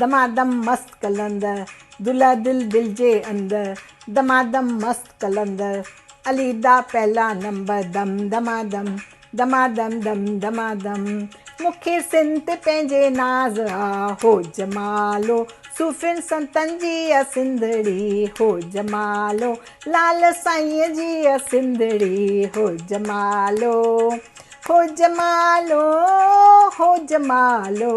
دما دم مست قلندر دلهه دل دل جي اندر دما دم مست قلندر علي دا پهلا نمبر دم دما دم دما دم دم دما دم مکي سنت پنهنجي ناز آ هو جمالو صوفين سنتن جي آ سنڌڙي هو جمالو لال سائين جي آ سنڌڙي هو جمالو هو جمالو هو جمالو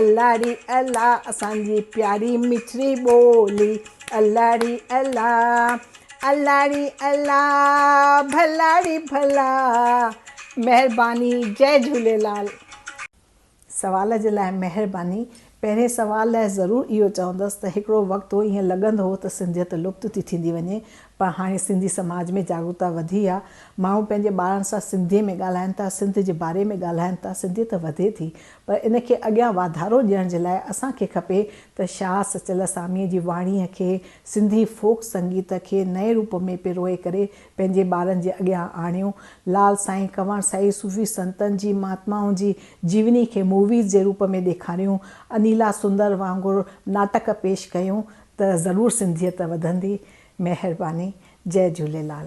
الله ري الله اسان جي پياري مٺڙي ٻولي الله ري الله الله ري الله ڀلا ري ڀلا مهرباني جئي جهوليلال. سوال جي لاء مهرباني. پهرين سوال لاء ضرور اهو چوندس ته هڪڙو وقت هو ائين لڳندو هو ته سنڌيت لپت ٿي ٿيندي وڃي پر هاڻي سنڌي سماج ۾ جاڳرتا وڌي آ ماڻهو پنهنجي ٻارن سان سنڌي ۾ ڳالهائن ٿا سنڌ جي باري ۾ ڳالهائن ٿا سنڌيت وڌي ٿي پر ان کي اڳيان واڌارو ڏيڻ جي لاء اسان کي کپي ته شاهه سچل اساميء جي واڻيء کي، سنڌي فوڪ سنگيت کي نئين روپ ۾ پروئي ڪري پنهنجي ٻارن جي اڳيان آڻيون. لعل سائين، ڪنور سائين، صوفي سنتن جي، مهاتمائن جي جيوني کي موويز جي روپ ۾ ڏيکاريون، انيلا سندر وانگر ناٽڪ پيش ڪيون ته ضرور سنڌيت وڌندي. مهرباني. جئي جهوليلال.